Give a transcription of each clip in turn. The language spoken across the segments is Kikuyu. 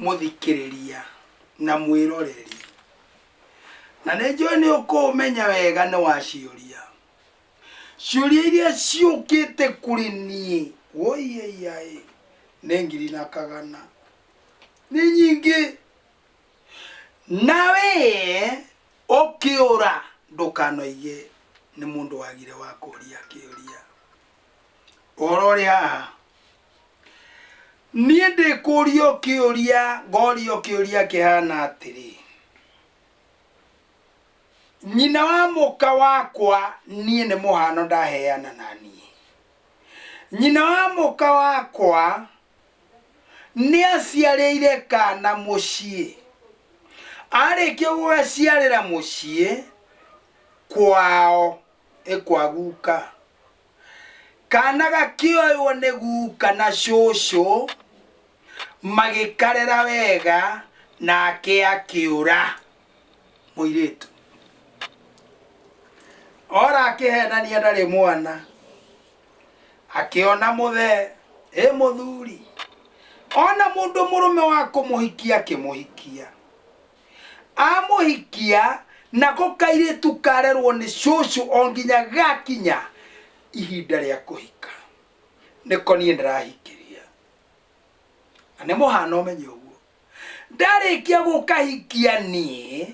mũthikĩrĩria na mwĩroreri na nĩ njũĩ nĩ ũkũũmenya wega nĩ waciũria ciũria iria ciũkĩte kũrĩ niĩ woiyeiaĩ nĩ ngiri na kagana nĩ nyingĩ na wĩe ũkĩũra ndũkanoige nĩ mũndũ wagire wa kũria kĩũria ũhoro ũrĩ haha niĩ ndĩkũria ũkĩũria ngoria ũkĩũria kĩhana atĩrĩ nyina wa mũka wakwa niĩ nĩ mũhano ndaheana na niĩ nyina wa mũka wakwa nĩaciarĩire kaana mũciĩ. Arĩkia gũgaciarĩra mũciĩ kwao, ĩ kwa guka, kaana gakĩoywo nĩ guka na cũcũ magĩkarera wega nake akĩũra mũirĩtu. Ora akĩhenania ndarĩ mwana, akĩona mũthee ĩ mũthuri ona mũndũ mũrũme wa kũmũhikia akĩmũhikia amũhikia nako kairĩtu karerwo nĩ cũcũ o nginya gakinya ihinda rĩa kũhika nĩko niĩ ndĩrahikiria na nĩ mũhana ũmenye ũguo Ndarĩkia gũkahikia niĩ,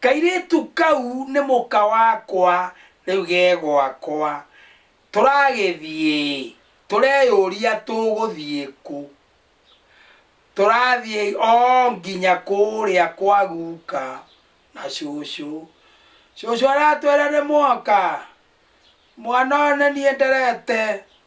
kairĩtu kau nĩ mũka wakwa rĩu ge gwakwa. Tũragĩthiĩ-ĩ, tũreyũria tũgũthiĩ kũ? Tũrathiĩ o nginya kũrĩa kwa guka na cũcũ. Cũcũ aratwĩra nĩmwoka? Mwana ũyũ nĩ niĩ nderete.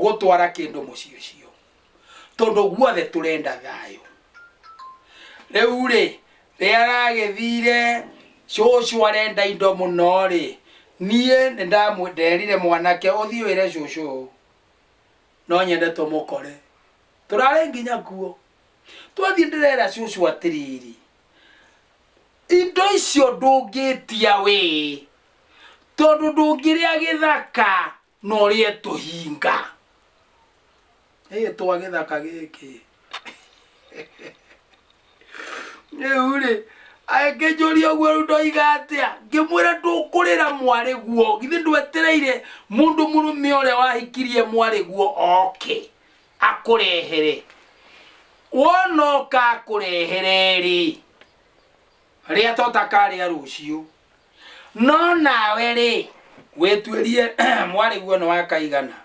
gũtwara kĩndũ mũciĩ ũcio tondũ guothe tũrenda thayũ rĩu rĩ rĩrĩa aragĩthire cũcũ arenda indo mũno rĩ niĩ nĩ ndamwĩ- nderire mwanake ũthiĩ wĩre cũcũ ũũ, no nyende tũmũkore tũrarĩ nginya kuo twathiĩ ndĩrera cũcũ atĩrĩrĩ Indo icio ndũngĩtia wĩ, tondũ ndũngĩrĩa gĩthaka na ũrĩe tũhinga. Ĩĩ twa gĩthaka gĩkĩ. Rĩu-rĩ, agĩkĩnjũria ũguo rĩu ndoiga atĩa? Ngĩmwĩra ndũkũrĩra mwarĩguo, githĩ ndwetereire mũndũ mũrũme ũrĩa wahikirie mwarĩguo oke? akũrehere wona oka akũrehere-rĩ rĩa tota karĩa rũciũ no nawe-rĩ wĩtuĩrie mwarĩ guo nĩ wa kaigana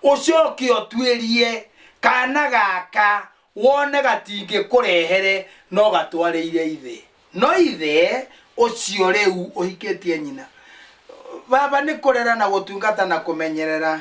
ũcoke ũtuĩrie kana gaka wone gatingĩkũrehere no gatwarĩire ithe no ithe ũcio rĩu ũhikĩtie nyina baba nĩ kũrera na gũtungata na kũmenyerera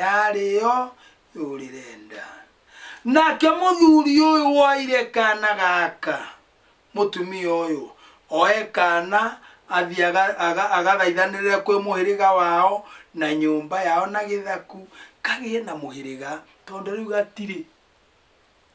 yarĩo yũrĩre nda. Nake mũthuri ũyũ woire kana gaka, mũtumia ũyũ oe kana athiĩ aga- aga- agathaithanĩrĩre kwĩ mũhĩrĩga wao na nyũmba yao na gĩthaku kagĩe na mũhĩrĩga tondũ rĩu gatirĩ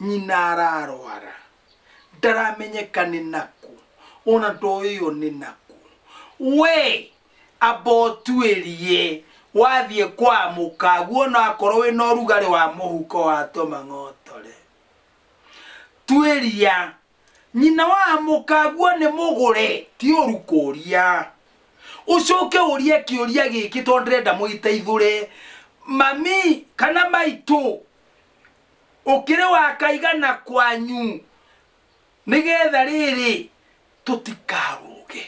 nyina ararwara ndaramenyeka nĩ nakũ ona ndoĩo nĩ nakũ we amba ũtuĩrie wathiĩ kwa mũkagu ona akorwo wĩ na ũrugarĩ wa mũhuko wa tũmang'otore tuĩria nyina wa mũkaguo nĩ mũgũre ti ũru kũria ũcoke ũrie kĩũria gĩkĩ tondũ ndĩrenda mũiteithũre mami kana maitũ ũkĩrĩ wakaigana kwanyu nĩgetha rĩrĩ tũtikarũge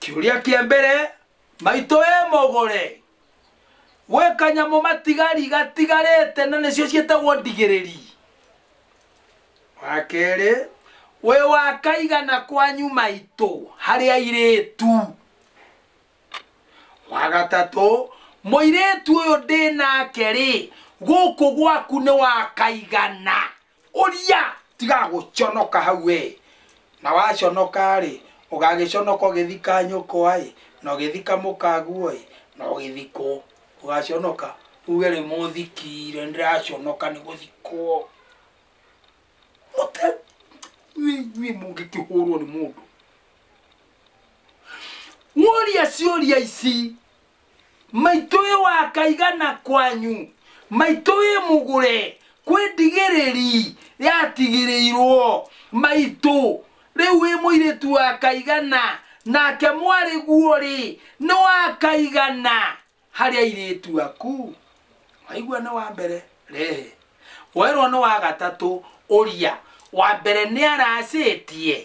kĩũria kĩa mbere maitũ wĩ mũgũre gwĩ kanyamũ matigari gatigarĩte na nĩcio ciĩtagwo ndigĩrĩri wa kerĩ wĩ wakaigana kwanyu maitũ harĩ airĩtu wa gatatũ mũirĩtu ũyũ ndĩ nake rĩ gũkũ gwaku nĩ wakaigana ũria tiga gũconoka hau we na waconoka rĩ ũgagĩconoka ũgĩthika nyũkwa ĩ na ũgĩthika mũkaguo ĩ na ũgĩthikwo ũgaconoka uge rĩ mũthikire ndĩraconoka nĩ gũthikwo mũte nyuĩ mũngĩkĩhũrwo nĩ mũndũ woria ciũria ici maitũ ĩ wakaigana kwanyu maitũ ĩ mũgũre kwĩ ndigĩrĩri yatigĩrĩirwo maitũ rĩu wĩ mũirĩtu wa kaigana nake mwarĩ guo rĩ nĩ wa kaigana Harĩ airĩtu aku? Waigua nĩ wa mbere? Rehe. Woerwo nĩ wa gatatũ? Ũria. Wa mbere nĩ aracĩtie?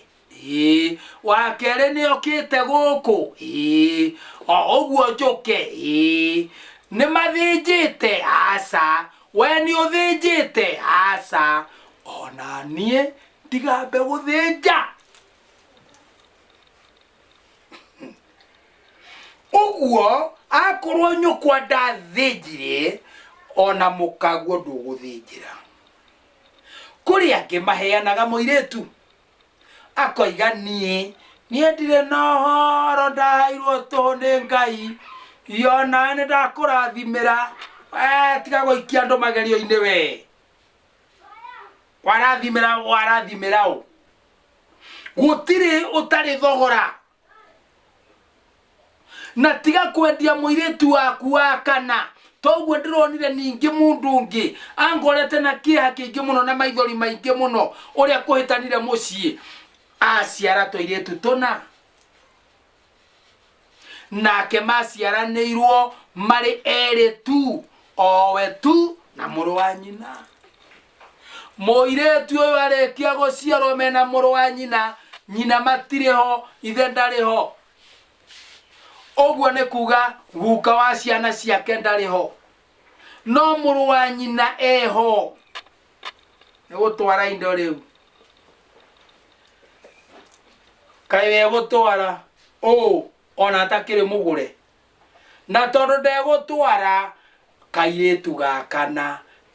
Ĩĩ. Wa kerĩ nĩ okĩte gũkũ? Ĩĩ. O ũguo njũke? Ĩĩ. Nĩ mathĩnjĩte? Aca. We nĩ ũthĩnjĩte? Aca. O na niĩ ndigambe gũthĩnja. ũguo akorwo nyũkwa ndathĩnjire ona mũkaguo ndũgũthĩnjĩra kũrĩ angĩ maheanaga mũirĩtu akoiga niĩ niĩ ndirĩ na ũhoro ndaheirwo tũhũ nĩ ngai yona nĩ ndakũrathimĩra Eh, tiga gũikia andũ magerio-inĩ we warathimĩra warathimĩra ũ gũtirĩ ũtarĩ thogora na tiga kwendia mũirĩtu waku wa kana toguo ndĩronire ningĩ mũndũ ũngĩ angorete na kĩeha kĩingĩ mũno na maithori maingĩ mũno ũrĩa kũhĩtanire mũciĩ aciara tũirĩtu tũna nake maciaranĩirwo marĩ erĩ tu owe tu na mũrũ wa nyina mũirĩtu ũyũ arĩkia gũciarwo mena mũrũ wa nyina nyina matirĩ ho ithe ndarĩ ho ũguo nĩ kuga guka wa ciana ciake ndarĩ ho no mũrũ wa nyina eho nĩ gũtwara indo rĩu kaĩ wegũtwara ũũ ona atakĩrĩ mũgũre Na tondũ ndegũtwara kairĩtu ga kana,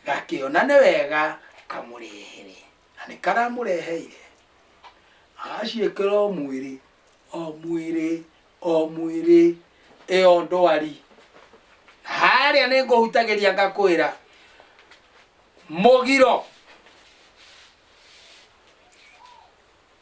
gakĩona nĩ wega amũrehere. Na nĩ karamũreheire. Agaciĩkĩra o mwĩrĩ, o mwĩrĩ, o mwĩrĩ, ĩyo ndwari. Na harĩa nĩ ngũhutagĩria ngakwĩra, mũgiro.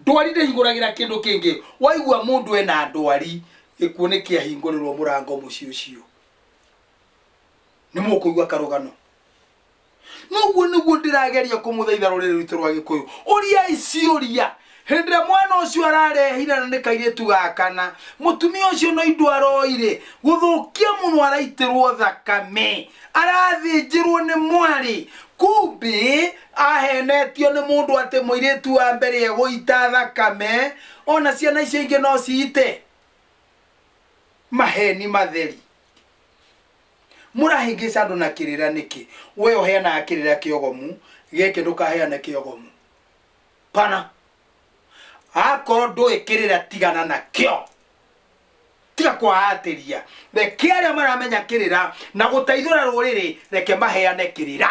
ndwari ndĩhingũragĩra kĩndũ kĩngĩ waigua mũndũ ena ndwari gĩkuũ nĩ kĩahingũrĩrwo mũrango mũciĩ ũcio nĩ mũkũigua karũgano noguo nĩguo ndĩrageria kũmũthaitha rũrĩrĩ rwitũ rwa gĩkũyũ ũriai ciũria hĩndĩ ĩrĩa mwana ũcio ararehire na nĩ kairĩtu gakana mũtumia ũcio no indo aroire gũthũkia mũno araitĩrwo thakame arathĩnjĩrwo nĩ mwarĩ kumbe Aheenetio nĩ mũndũ atĩ mũirĩtu wa mbere egũita thakame, o na ciana icio ingĩ no ciite? Maheeni matheri. Mũrahĩngĩca andũ na kĩrĩra nĩkĩ? Wee ũheanaga kĩrĩra kĩogomu, gĩkĩ ndũkaheane kĩogomu. Pana. Akorwo ndũĩ kĩrĩra tigana nakĩo. Tiga kwaatĩria. Reke arĩa maramenya kĩrĩra na gũteithũra rũrĩrĩ, reke maheane kĩrĩra.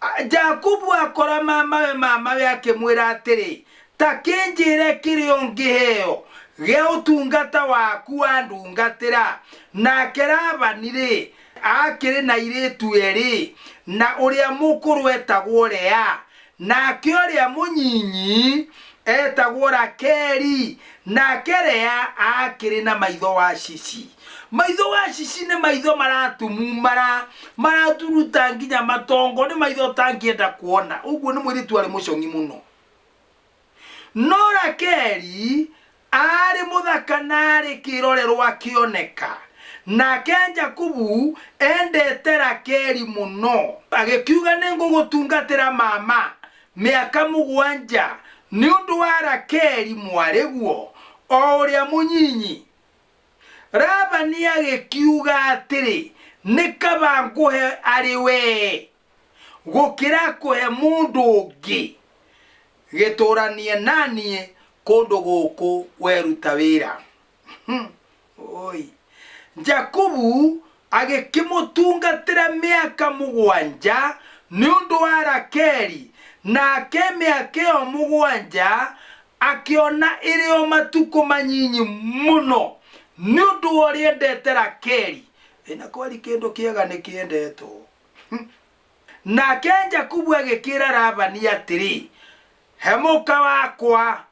A- jakubu akora mamawe mamawe akĩmwĩra atĩrĩ ta kĩnjĩre kĩrĩa ũngĩheo gĩa ũtungata waku wandungatĩra nake labani-rĩ akĩrĩ na irĩtu erĩ na ũrĩa mũkũrũ etagwo lea Nake ũrĩa mũnyinyi eetagwo Rakeli, nake Lea aakĩrĩ na maitho wacici. Maitho wacici nĩ maitho maratumumara, maraturuta nginya matongo, nĩ maitho ũtangĩenda kuona. Ũguo nĩ mũirĩtu warĩ mũcong'i mũno. No Rakeli aarĩ mũthaka na arĩ kĩrorerwa kĩoneka. Nake Jakubu endete Rakeli mũno, agĩkiuga nĩ ngũgũtungatĩra mama mĩaka mũgwanja nĩ ũndũ wa Rakeli mwarĩguo o ũrĩa mũnyinyi. Labani agĩkiuga atĩrĩ, nĩ kaba ngũhe arĩ wee. gũkĩra kũhe mũndũ ũngĩ gĩtũranie naniĩ kũndũ gũkũ weruta wĩra Hmm, oi jakubu agĩkĩmũtungatĩra mĩaka mũgwanja nĩ ũndũ wa rakeli nake mĩaka ĩyo mũgwanja akĩona ĩrĩ o matukũ manyinyi mũno nĩ ũndũ wa ũrĩa endete rakeli ĩna kwari kĩndũ kĩega nĩ kĩendetwo Nake Jakubu agĩkĩra Labani atĩrĩ, he mũka wakwa,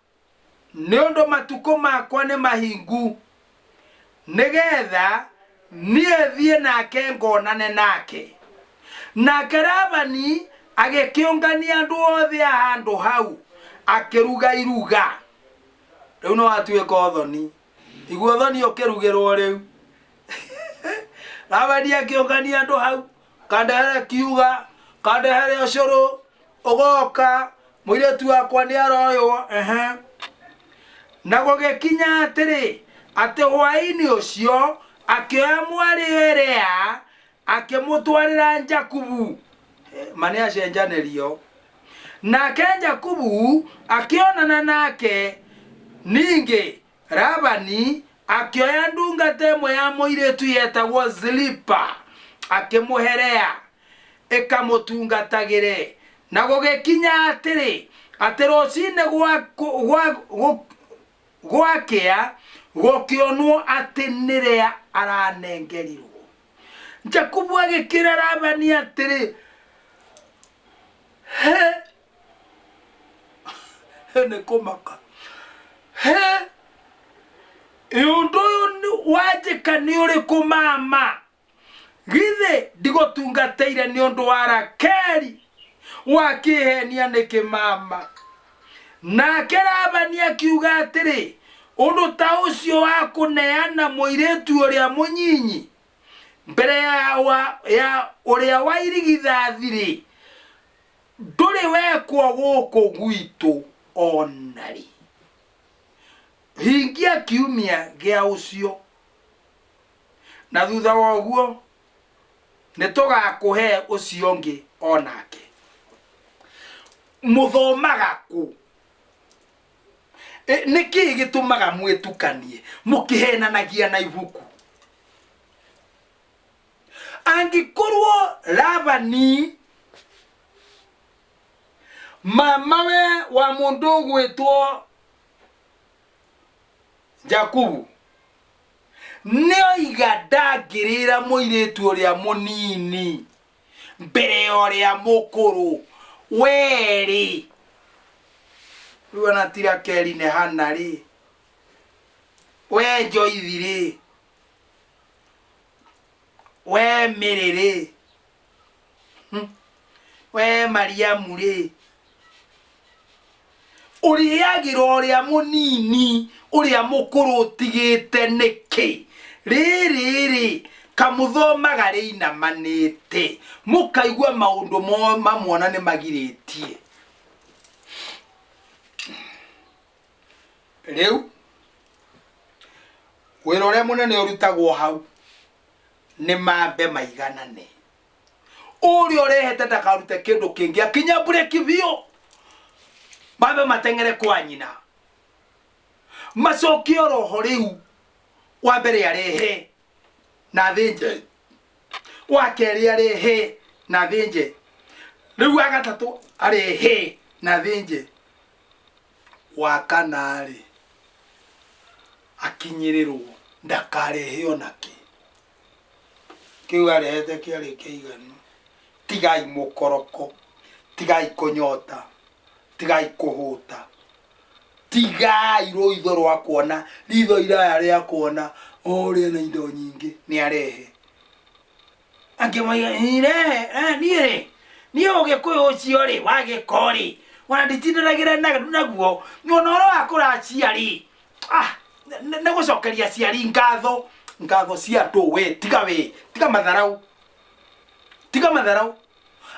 nĩ ũndũ matukũ makwa nĩ mahingu, nĩgetha niĩ thiĩ nake ngonane nake. Nake Labani agĩkĩũngania andũ othe a handũ hau, akĩruga iruga. Rĩu nĩ watuĩka ũthoni. iguothoni ũkĩrugĩrwo rĩu ravani akĩũngania andũ hau kandehere kiuga kandehere ũcũrũ ũgoka mũirĩtu wakwa nĩ aroywo ehe na gũgĩkinya atĩrĩ atĩ hwaĩ-inĩ ũcio akĩoya mwarĩ erea akĩmũtwarĩra jakubu Eh, ma nĩ acenjanĩrio nake jakubu akĩonana nake ningĩ labani akĩoya ndungata ĩmwe ya mũirĩtu yetagwo zilipa akĩmũherea ĩkamũtungatagĩre na gũgĩkinya atĩrĩ atĩ rũcinĩ gwa- gwa- gwa- gũ- gwakĩa gũkĩonwo atĩ nĩ rĩa aranengerirwo Jakubu agĩkĩra Labani atĩrĩ, he nĩ kũmaka he ũndũ ũyũ nĩ- wanjĩka nĩ ũrĩkũ mama githĩ ndigũtungatĩire nĩ ũndũ wa rakeri wakĩhenia nĩkĩ mama Nake Labani akiuga atĩrĩ, Ũndũ ta ũcio wa kũneana mũirĩtu ũrĩa mũnyinyi mbere ya, wa, ya ũrĩa wa irigithathi-rĩ, ndũrĩ wekwo gũkũ gwitũ o na rĩ. Hingia kiumia gĩa ũcio. na thutha wa ũguo nĩ tũgakũhe ũcio ũngĩ o nake mũthomaga kũ E, nĩ kĩĩ gĩtũmaga mwĩtukanie mũkĩhenanagia na ibuku angĩkorwo labani mamawe wa mũndũ ũgwĩtwo jakubu Nĩoiga ndangĩrĩra mũirĩtu ũrĩa mũnini mbere ya ũrĩa mũkũrũ. Wee-rĩ, rĩu ona ti Rakeli nĩ Hana-rĩ, wee Njoithi-rĩ, wee Mĩrĩ-rĩ. Hmm. we mariamu rĩ ũrĩagĩra ũrĩa mũnini ũrĩa mũkũrũ ũtigĩte nĩkĩ rĩrĩ rĩ kamũthomaga rĩinamanĩte mũkaigua maũndũ mo- mamwona nĩ magirĩtie rĩu wĩra ũrĩa mũnene ũrutagwo hau nĩ mambe maiganane ũrĩa ũrehete ndakarute kĩndũ kĩngĩ akinya mbureki biũ mambe mateng'ere kwa nyina macokie roho rĩu wa mbere arehe na thĩnje wa kerĩ arehe na thĩnje rĩu wa gatatũ arehe na thĩnje wa kana-rĩ, akinyĩrĩrwo ndakarehe o na kĩ. Kĩu arehete kĩarĩ kĩiganu. Tigai mũkoroko, tigai kũnyota, tigai kũhũta, tigai rũitho rwa kuona, ritho iraya rĩa kuona o ũrĩa na indo nyingĩ nĩ arehe. angĩmwĩra niĩ rĩ niĩ ũgĩkũyũ ũcio rĩ wa gĩko rĩ ona nditindĩragĩra na- naguo nyona ũrĩa wa kũracia rĩ ah, nĩ nĩ gũcokeria aciari ngatho ngatho cia andũ we tiga we tiga matharau tiga matharau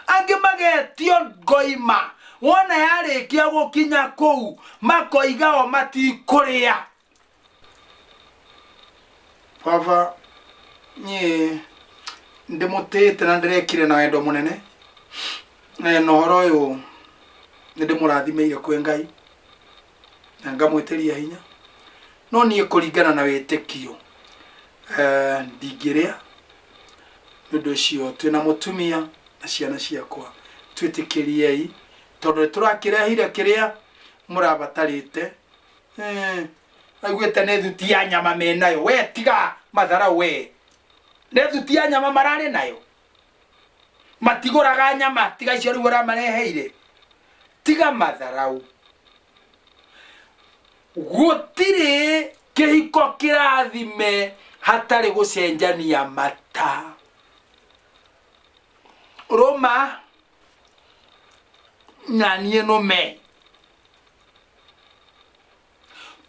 angĩ magetio ngoima wona yarĩkia gũkinya kũu makoiga o matikũrĩa baba niĩ ndĩmũtĩĩte na ndĩrekire na wendo mũnene Eh, na ũhoro ũyũ nĩ ndĩmũrathimeire kwĩ ngai na ngamwĩtĩria hinya no niĩ kũringana na wĩtĩkio eh, ndingĩrĩa nĩ ũndũ ũcio twĩ na mũtumia na ciana ciakwa twĩtĩkĩriei tondũ nĩ tũrakĩrehire kĩrĩa mũrabatarĩte Eh, aiguĩte nĩ thuti ya nyama me nayo we tiga mathara we nĩ thuti ya nyama mararĩ nayo matigũraga nyama tiga icio rĩu ũramareheire tiga matharau gũtirĩ kĩhiko kĩrathime hatarĩ gũcenjania mata rũma na niĩ nũme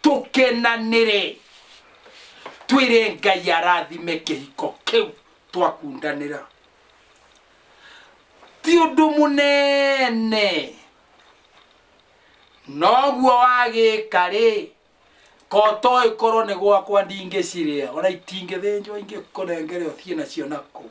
tũkenanĩre twĩre ngai arathime kĩhiko kĩu twakundanĩra ti ũndũ mũnene noguo wagĩka rĩ koto ĩkorwo nĩ gwakwa ndingĩcirĩa ona itingĩthĩnjwo ingĩkũnengere ũthiĩ nacio nakũu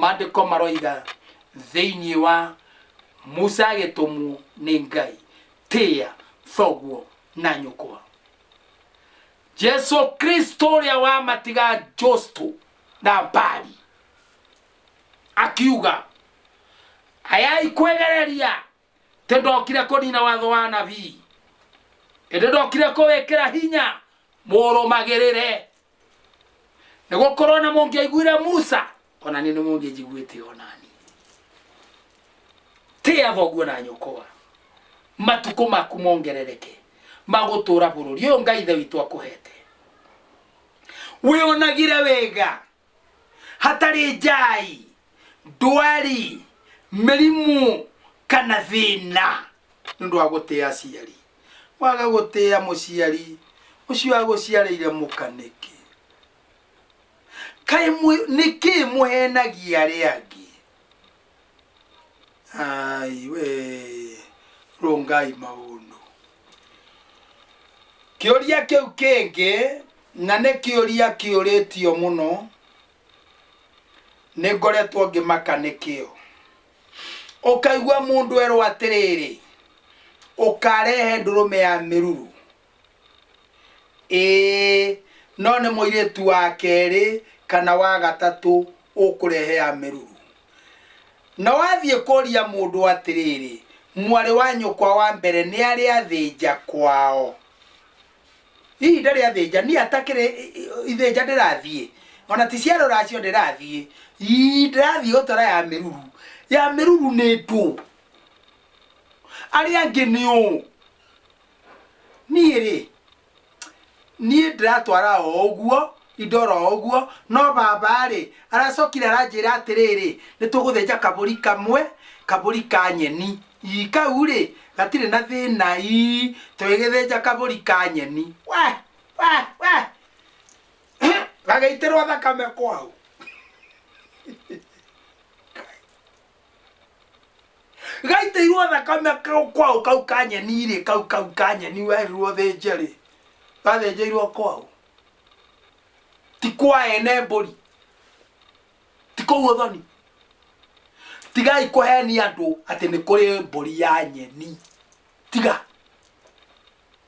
Mandĩko maroiga thĩinĩ wa Musa agĩtũmwo nĩ Ngai, tĩa thoguo na nyũkwa. Jesu Kristo ũrĩa wamatiga Josto na Mbali akiuga ayai kwegereria tĩ ndokire kũnina watho wa nabii ĩndĩ ndokire kũwĩkĩra hinya mũrũmagĩrĩre nĩ gũkorwo na mũngĩaiguire musa ona nĩ nĩ mũngĩnjiguĩte onani tĩa thoguo na nyũkwa matukũ maku mongerereke magũtũra bũrũri ũyũ ngai ithe witũ akũhete wĩonagire wega hatarĩ njai ndwari mĩrimũ kana thĩna nĩ ũndũ wa gũtĩa aciari waga gũtĩa mũciari ũcio agũciarĩire mũka nĩkĩ kaĩ mũ- nĩkĩ mũhenagia arĩa angĩ ai we rungai maundu kiuria kiu kingi na ni kiuria kiuritio muno ni ngoretwo ngimaka nikio ukaigua mundu erwo atiriri ukarehe ndurume ya miruru ĩĩ no nĩ mũirĩtu wa kerĩ kana wa gatatũ ũkũrehe ya mĩruru na wathiĩ kũria mũndũ atĩrĩrĩ mwarĩ wa nyũkwa wa mbere nĩ arĩ athĩnja kwao hihi ndarĩ athĩnja niĩ atakĩrĩ ithĩnja ndĩrathiĩ ona ti ciaro racio ndĩrathiĩ ii ndĩrathiĩ gũtwara ya mĩruru ya mĩruru nĩ ndũ arĩa angĩ nĩ ũũ niĩ rĩ niĩ ndĩratwara o ũguo indo ro ũguo no baba rĩ aracokire aranjĩra atĩrĩrĩ nĩ tũgũthĩnja kabũri kamwe kabũri ka nyeni ii kau rĩ gatirĩ na thĩna ii tũgĩgĩthĩnja kabũri ka nyeni we we we gagĩitĩrwo thakame kwau gaitĩirwo thakame kau- kwau kau kanyeni-rĩ kau kau kanyeni werirwo thĩnje-rĩ gathĩnjĩirwo kwau ti kwa ene mbũri ti kũu ũthoni tigai kũhenia andũ atĩ nĩ kũrĩ mbũri ya nyeni tiga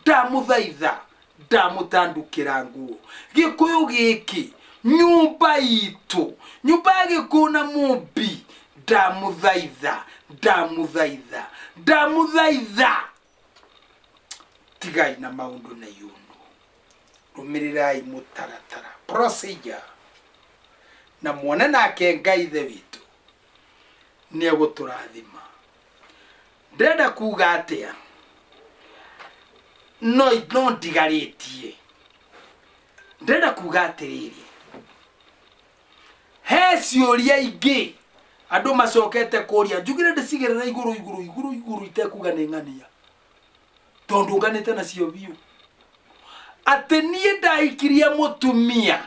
ndamũthaitha ndamũtandũkĩra nguo gĩkũyũ gĩkĩ nyũmba itũ nyũmba ya gĩkũyũ na mũmbi ndamũthaitha ndamũthaitha ndamũthaitha tigai na maũndũ na yũnũ rũmĩrĩrai mũtaratara procedure na muone nake ngai ithe witũ nĩ egũtũrathima ndĩrenda kuga atĩa no no ndigarĩtie ndĩrenda kuga atĩrĩrĩ he ciũria ingĩ andũ macokete kũria njugire ndĩcigĩrĩra igũrũ igũrũ igũrũ igũrũ itekuga nĩ ng'ania tondũ nganĩte nacio biũ atĩ niĩ ndahikirie mũtumia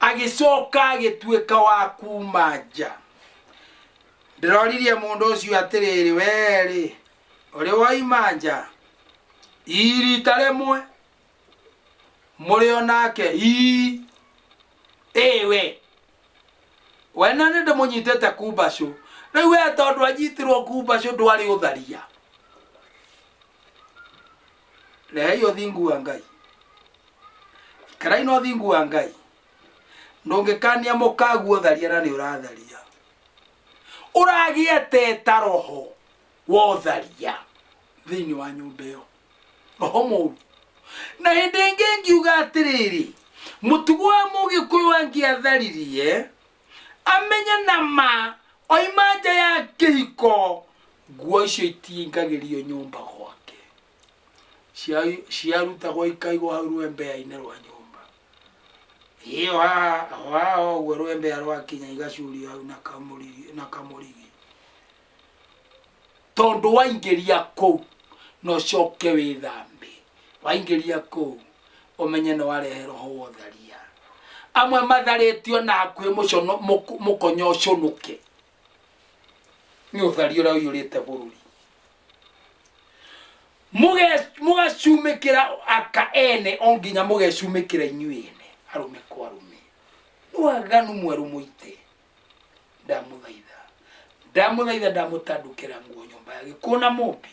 agĩcoka agĩtuĩka wa kuma nja Ndĩroririe mũndũ ũcio atĩrĩrĩ, wee-rĩ, ũrĩ woima nja ii rita rĩmwe mũrĩ o nake ii ĩĩ we we na nĩ ndĩmũnyitĩte kumbacũ rĩu we tondũ anyitirwo kumbacũ ndwarĩ ũtharia rehei ũthingu wa ngai ikarai na ũthingu wa ngai ndũngĩkania mũkaguo tharia na nĩ ũratharia ũragĩete ta roho wa ũtharia thĩinĩ wa nyũmba ĩyo roho mũru na hĩndĩ ĩngĩ ngiuga atĩrĩrĩ mũtugo wa mũgĩkũyũ angĩatharirie amenye na ma oima nja ya kĩhiko nguo icio itingagĩrio nyũmba gwake Cia- ciarutagwo ikaigwo hau rwembea-inĩ rwa nyũmba ĩyo haha o haha ũguo rwembea rwakinya igacurio hau na kamũrigi na kamũrigi tondũ waingĩria kũu na ũcoke wĩthambe waingĩria kũu ũmenye nĩ warehe roho wa ũtharia amwe matharĩtio na hakuhĩ mũcono- mũk- mũkonyo ũcũnũke nĩ ũthari ũrĩa ũiyũrĩte bũrũri Mũge- mũgacumĩkĩra aka ene o nginya mũgecumĩkĩra inyuĩ ene arũme kwa arũme nĩ waganu mwerũ mũite ndamũthaitha ndamũthaitha ndamũtandũkĩra nguo nyũmba ya gĩkuũ na mũmbi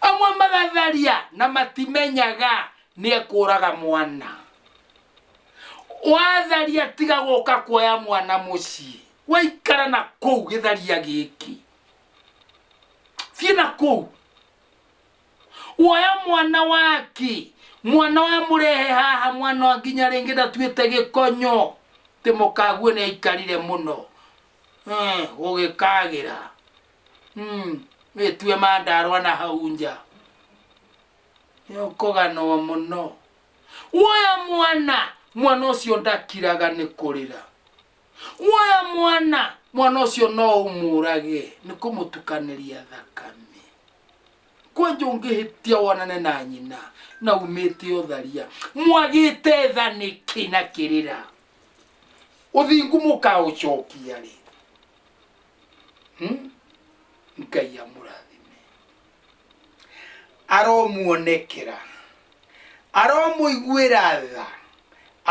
amwe magatharia na matimenyaga nĩ ekũraga mwana watharia tiga gũka kuoya mwana mũciĩ waikara na kũu gĩtharia gĩkĩ thiĩ na kũu woya mwana waki mwana wa mũrehe haha mwana wa nginya rĩngĩ ndatuĩte gĩkonyo tĩ mũkaguo nĩ aikarire mũno Eh, gũgĩkagĩra Mm, wĩtue mandarwa na hau nja nĩũkũganwo mũno woya mwana mwana ũcio ndakiraga nĩ kũrĩra woya mwana mwana ũcio no ũmũrage nĩ kũmũtukanĩria thakame kwanja ũngĩhĩtia wonane na nyina na umĩte ũtharia mwagĩte tha nĩkĩ na kĩrĩra ũthingu mũkaũcokia rĩ Hmm? ngai amũrathime aromuonekera aromũiguĩra tha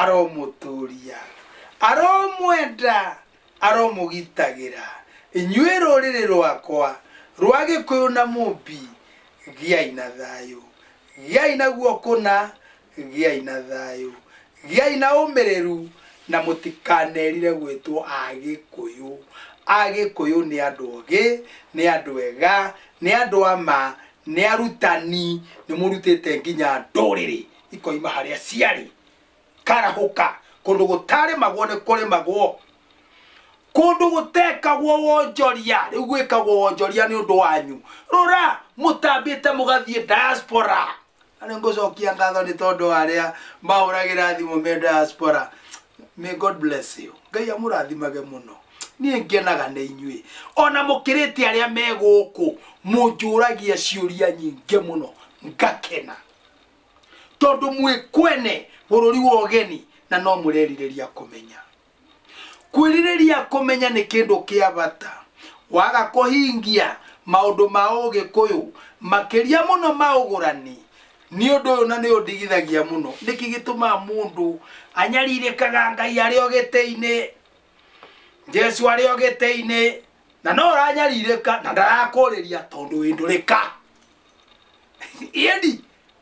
aromũtũria aromwenda aromũgitagĩra inyuĩ rũrĩrĩ rwakwa rwa gĩkũyũ na mũmbi gĩai na thayũ gĩai naguo kũna Gĩai na thayũ, gĩai na ũmĩrĩru, na mũtikanerire gwĩtwo Agĩkũyũ. Agĩkũyũ nĩ andũ ogĩ, nĩ andũ ega, nĩ andũ a ma, nĩ arutani, nĩ mũrutĩte nginya ndũrĩrĩ ikoima harĩa ciarĩ. Karahũka, kũndũ gũtarĩmagwo nĩ kũrĩmagwo. kũndũ gũtekagwo wonjoria rĩu gwĩkagwo wonjoria nĩ ũndũ wanyu rora mũtambĩte mũgathiĩ diaspora Na nĩ ngũcokia ngatho nĩ tondũ wa arĩa mahũragĩra thimũ me diaspora may god bless you ngai amũrathimage mũno niĩ ngenaga nĩ inyuĩ ona mũkĩrĩte arĩa me gũkũ mũnjũragia ciũria nyingĩ mũno ngakena tondũ mwĩ kwene bũrũri wa ũgeni na no mũrerirĩria kũmenya kwĩrirĩria kũmenya nĩ kĩndũ kĩa bata waga kũhingia maũndũ ma ũgĩkũyũ makĩria mũno ma ũgũrani nĩ ũndũ ũyũ na nĩ ũndigithagia mũno nĩkĩ gĩtũmaga mũndũ anyarirĩkaga ngai arĩ o gĩtĩ-inĩ jesu arĩ o gĩtĩ-inĩ na no ũranyarirĩka na ndarakũrĩria tondũ wĩndũrĩka ĩni